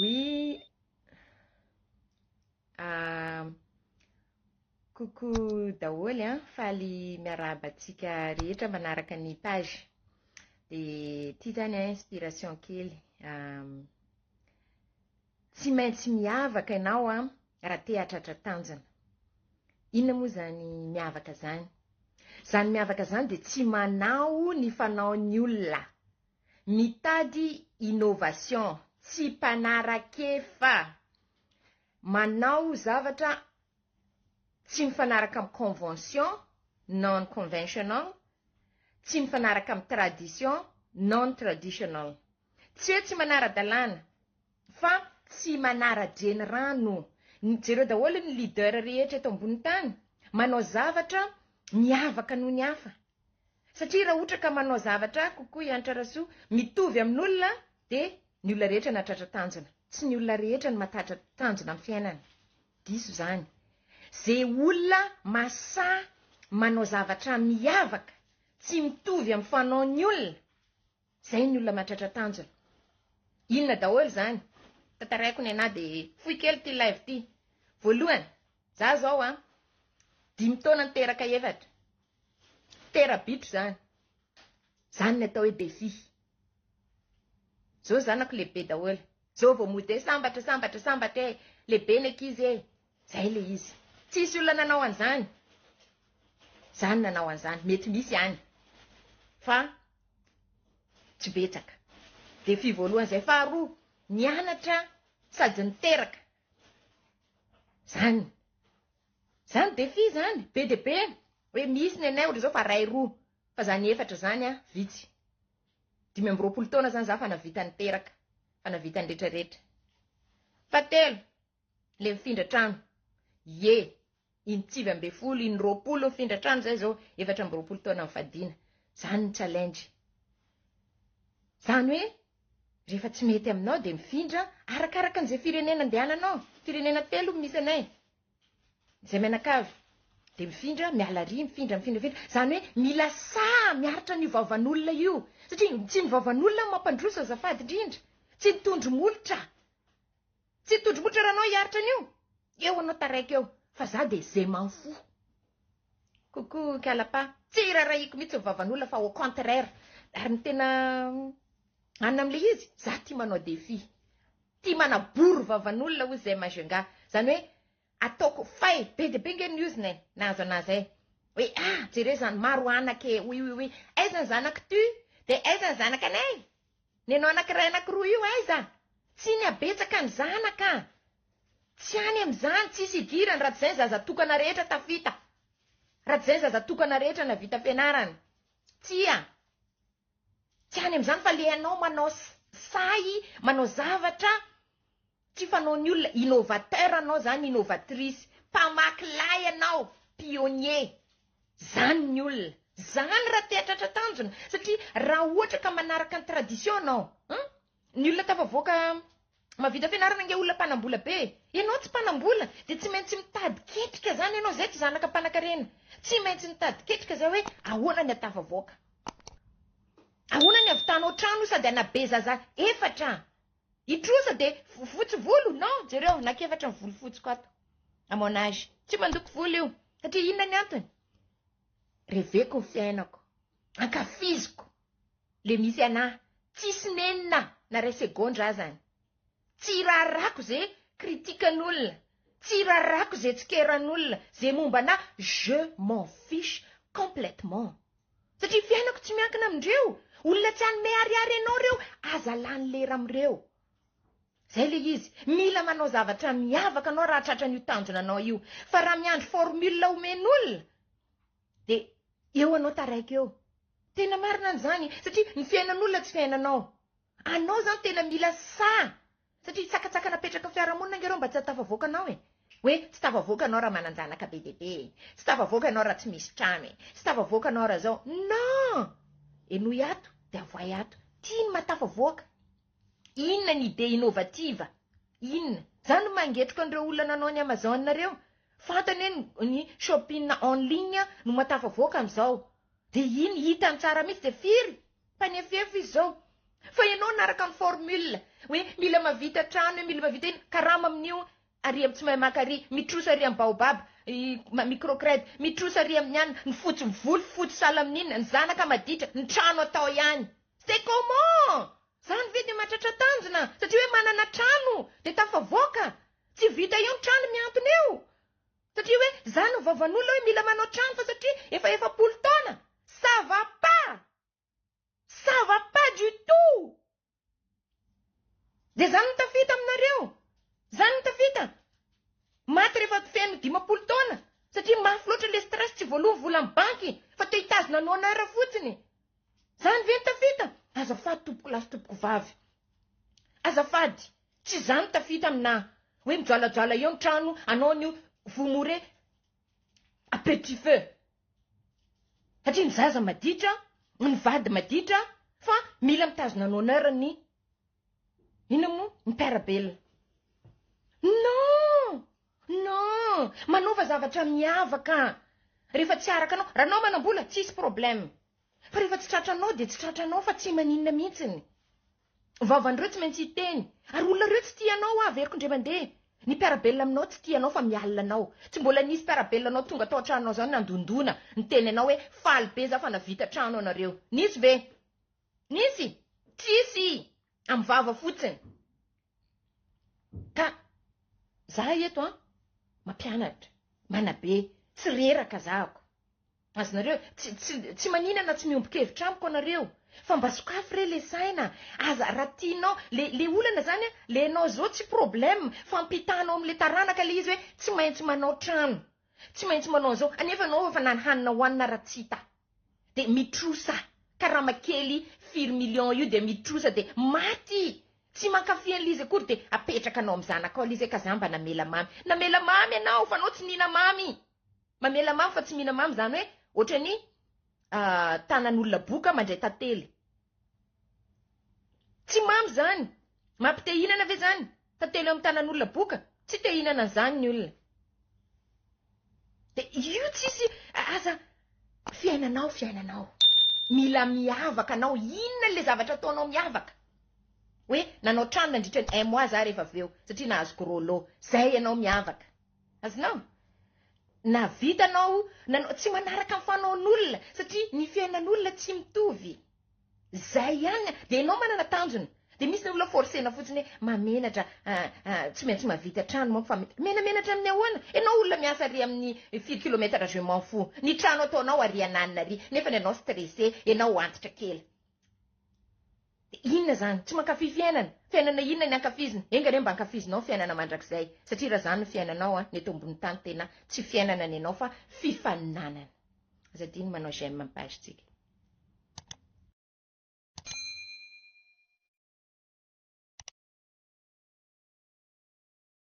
Oui. Ah, coucou daholo an, faly miarahaba antsika rehetra manaraka ny page. Dia ity zany an inspiration kely. Um, Tsy maintsy miavaka ianao an raha te hahatratra tanjona. Inona moa izany miavaka izany? Izany miavaka izany dia tsy manao ny fanaon'ny olona. Mitady innovation, tsy mpanarak'efa. Manao zavatra tsy mifanaraka amin'ny convention, non conventional, tsy mifanaraka amin'ny tradition, non traditional. Tsy hoe tsy manara-dalàna fa tsy manara-drenirano. Jereo daholo ny leader rehetra eto ambony tany manao zavatra miavaka noho ny hafa. Satria raha ohatra ka manao zavatra kokoa i Hanitra Rasoa mitovy amin'olona dia ny olona rehetra nahatratra tanjona. Tsy ny olona rehetra no mahatatra tanjona amin'ny fiainana. Diso izany. Ze olona masaha manao zavatra miavaka tsy mitovy amin'ny fanaon'ny olona. Zay ny olona mahatratra tanjona. Inona daholo izany? Tantaraiko ny anah dia fohy kely ity live ity. Voalohany, za zao an, dimy taona niteraka efatra. Terabitro zany. Zany ny atao hoe défi. Zao zanako lehibe daholo. Zao vao mody hoe sambatra sambatra sambatra e, lehibe ny ankizy e. Zay le izy. Tsisy olona nanao an'zany. Za no nanao an'zany. Mety misy any. Fa tsy betsaka. Défi voalohany zay. Faharoa, nianatra sady niteraka. Zany. Zany défi zany. Be dia be. Hoe misy ny anay ohatr'izao fa ray roa. Fa zany efatra zany an, vitsy. Dimy amby roapolo taona zany za fa navita niteraka. Fa navita ny retraretra. Fahatelo. Le mifindra trano. Ye. Iny tsivy ambe folo, iny roapolo mifindra trano zay zao efatra amby roapolo taona mifadiana. Zany ny challenge. Zany hoe rehefa tsy mety aminao de mifindra arakaraka an'izay firenena andehananao. Firenena telo misy anay. Zay mianakavy. De mifindra miala ry mifindra mifindra mifindra. Zany hoe mila saha miaritra an'io vavan'olona io. Satria tsy ny vavan'olona no mampandroso azafady indrindra. Tsy ny tondro molotra. Tsy tojo motra ranao hiaritra an'io? Eo anao taraiky eo fa za de ze m'en fous. Coucou Kalapa, tsy irarahiako mihitsy ny vavan'olona fa au contraire ary ny tena anona amle izy za tia manao défi. Tia manabory vavan'olona hozy zay ma jnga. Zany hoe ataoko fay be de be nge ny ozona e na aza na aza e. Hoe ah jereo zany maro anaka e oui oui oui aiza ny zanak'ty de aiza ny zanak'anay Nenao anakiray anakiroa io aiza? Tsy ny habetsaka ny zanaka. Tsy any amin'izany, tsisy idirany raha tsy izay ny zaza tokana rehetra tafita. Raha tsy izay ny zaza tokana rehetra navita fianarana. Tsia. Tsy any amin'izany fa le anao manao sahy, manao zavatra. Tsy fanaon'ny olona, innovateur anao zany, innovatrice, mpamaky lahy ianao, pionnier, zany ny olona, zany raha te atratra tanjona, satria raha ohatra ka manaraka ny tradition anao, hum, ny olona tafavoaka mavita fianarana nge olona mpanambola be e, ianao tsy mpanambola dia tsy maintsy mitady ketrika zany ianao, zay tsy zanaka mpanakarena, tsy maintsy mitady ketrika zay hoe ahoana ny hatafavoaka, ahoana ny havitanao trano sady hanabe zaza efatra, I trosa de fotsy volo non jereo nakefatra ny volo fotsiko ato à mon âge tsy mandoko volo io satria inona ny antony reveko ny fiainako ankafiziko le misy anà tsisy nenina na ray segondra azany tsy raharako ze kritikan'olona tsy raharako ze tsikeran'olona ze momba anà je m'en fiche complètement Satria fiainako tsy miankina amindreo. Olona tsy hanome ariary anao reo, aza lany lera amreo. Zay le izy, mila manao zavatra miavaka anao raha tratran'io tanjona anao io. Fa raha miandry formule omen'olona de eo anao taraiky eo. Tena marina an'zany satria ny fiainan'olona tsy fiainanao. Anao zany tena mila sahy. Satria hitsakatsaka napetraka fiarahamonina ange reo mba tsy hatafavoaka anao e. Hoe tsy tafavoaka anao raha manan-janaka be dia be e. Tsy tafavoaka ianao raha tsy misy trano e. Tsy tafavoaka anao raha zao. Non! Henoy ato dia avoahy ato. Tia ny mahatafavoaka. Inona ny idée innovative? Inona? Za no mangetroka an'ireo olona nanao ny Amazon ireo. Fantany hoe ny shopping en ligne no mahatafavoaka amin'izao. Dia iny hitany tsara mihitsy dia firy Mpanefoefo izy zao. Fa ianao naraka ny formule hoe mila mavita trano mila mavita ino karama amin'io ary am tsy mahay maka ary mitrosa ary am baobab micro cred mitrosa ary amin'ny anona ny fotsy voly fotsy sahala amin'inona ny zanaka maditra ny trano atao ihany c'est comment zany ve de mahatratra tanjona satria hoe manana trano de tafavoaka tsy vita eo ny trano mihantona eo Satria hoe za no vavan'olona hoe mila manao trano fa satria efa efapolo taona! Ça va pas! Ça va pas du tout! Dia zany no tafita aminareo! Zany no tafita! Maty rehefa feno dimampolo taona! Satria mafy loatra le stress tsy voaloa ny volan'ny banky fa te hitazona ny honneur fotsiny! Zany ve no tafita! Azafady tompoko lahy sy tompoko vavy! Azafady! Tsy izany tafita amina hoe mijoalajoala eo ny trano anao anio vous mourrez à petit feu satria ny zaza maditra ny vady maditra fa mila mitazona ny honneur ny inona moa ny mpiarabelona non non manaova zavatra miavaka rehefa tsy araka anao raha anao manambola tsisy problème fa rehefa tsy tratranao dia tsy tratranao fa tsy maninona mihitsiny Vavan'ireo tsy maintsy hiteny. Ary olona ireo tsy tia anao avy eriko indray mandeha. Ny mpiara-belona aminao tsy tia anao fa mialona anao. Tsy mbola nisy mpiara-belona anao tonga tao an-tranonao izao nandondona, niteny anao hoe faly be za fa navita trano anareo. Nisy ve? Nisy? Tsisy! Amin'ny vava fotsiny. Ka za eto an, mampianatra, manabe, tsy reraka zahako. Azonareo, tsy, tsy, tsy manina na tsy miombon-kevitra amiko anareo. Fa mba sokafy re le saina, aza, raha tianao, le, le olana zany an, le anao zao tsy problème, fa ampitanao amle taranaka le izy hoe tsy maintsy manao trano, tsy maintsy manao anzao, anefa anao efa na ny hanina hoanina ara tsy hita. De mitrosa, karama kely firy millions io de mitrosa de maty, tsy mankafy anle izy akory de apetraka anao am zanakao le izy hoe ka za mba namela mamy. Namela mamy anao fa anao tsy nina mamy. Mamela mamy fa tsy mihina mamy zany hoe otrany tanan'olona boka mandray tantely. Tsy mamy zany. Mampite hihinana ve zany? Tantely eo amin'ny tanan'olona boka? Tsy te hihinana an'izany ny olona. Dia io tsisy aza fiainanao fiainanao. Mila miavaka anao inona le zavatra ataonao miavaka. Hoe nanao trano nandritra ny un mois za rehefa avy eo satria nahazo gros lot. Zay ianao miavaka. Azonao? Na vitanao na no tsy manaraka ny fanaon'olona satria ny fiainan'olona tsy mitovy. Zay ihany dia ianao manana tanjona. Dia misy ny olona forcena fotsiny hoe mamenatra tsy maintsy mavita trano manko fa menamenatra amin'ny ahoana? Ianao olona miasa ary amin'ny firy kilometatra je m'en fous. Ny trano ataonao ary ananina ary nefa ny anao stressé, ianao antitra kely. Dia inona izany? Tsy mankafy fiainana? Fiainana inona ny ankafizina? Enga anie mba ankafizinao ny fiainana mandrakizay, satria raha izany no fiainanao an, ny eto ambony tany tena tsy fiainana ny anao fa fifaninanana. Aza adino manao j'aime ny page tsika.